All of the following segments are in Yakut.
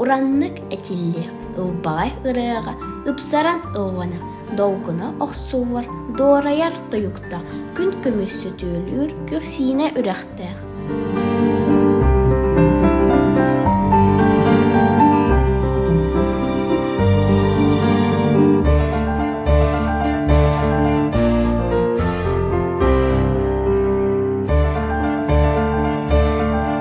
Ураннык этилли ылбаҕай ырыаҕа ыпсаран ыллана долгуна охсуһар, дуорайар тойукта күн күмүс сөтүөлүүр күрсиинэ үрэхтээх.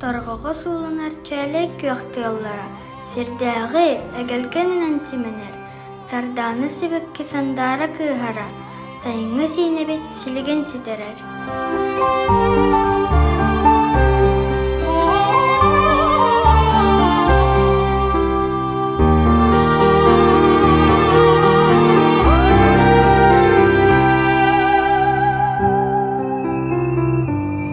Торҕоҕо сууланар чээлэй күөх тыаллара сирдээҕи эгэлгэнинэн симэнэр, сардаана сибэкки сандаара кыыһара, сайыҥҥы сиинэбит силигин ситэрэр.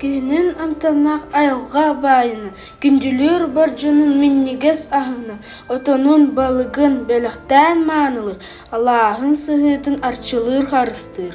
Киһинин амтаннаах айылҕа баайына, күндүлүүр бордьунун минньигэс аһына, отонун, балыгын бэлэхтээн маанылыыр, алааһын сыһыытын арчылыыр харыстыыр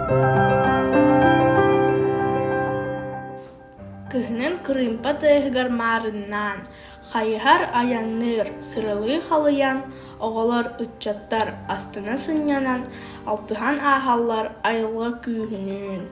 Кыһынын кырыымпа тыаһыгар маарыннаан, хайыһар айанныыр, сыралыы халыйан, оҕолор, ыччаттар астына сынньанан, алтыһан ааһаллар айылҕа күүһүнүүн.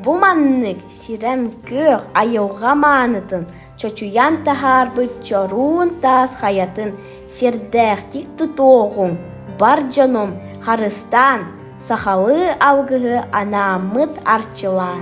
Бу маннык Сирэм-күөх айылҕа маанытын чочуйан таһаарбыт чоруун таас хайатын сирдээхтик тутуоҕуҥ, бар дьонум, харыстаан, сахалыы алгыһы анааммыт арчылаан!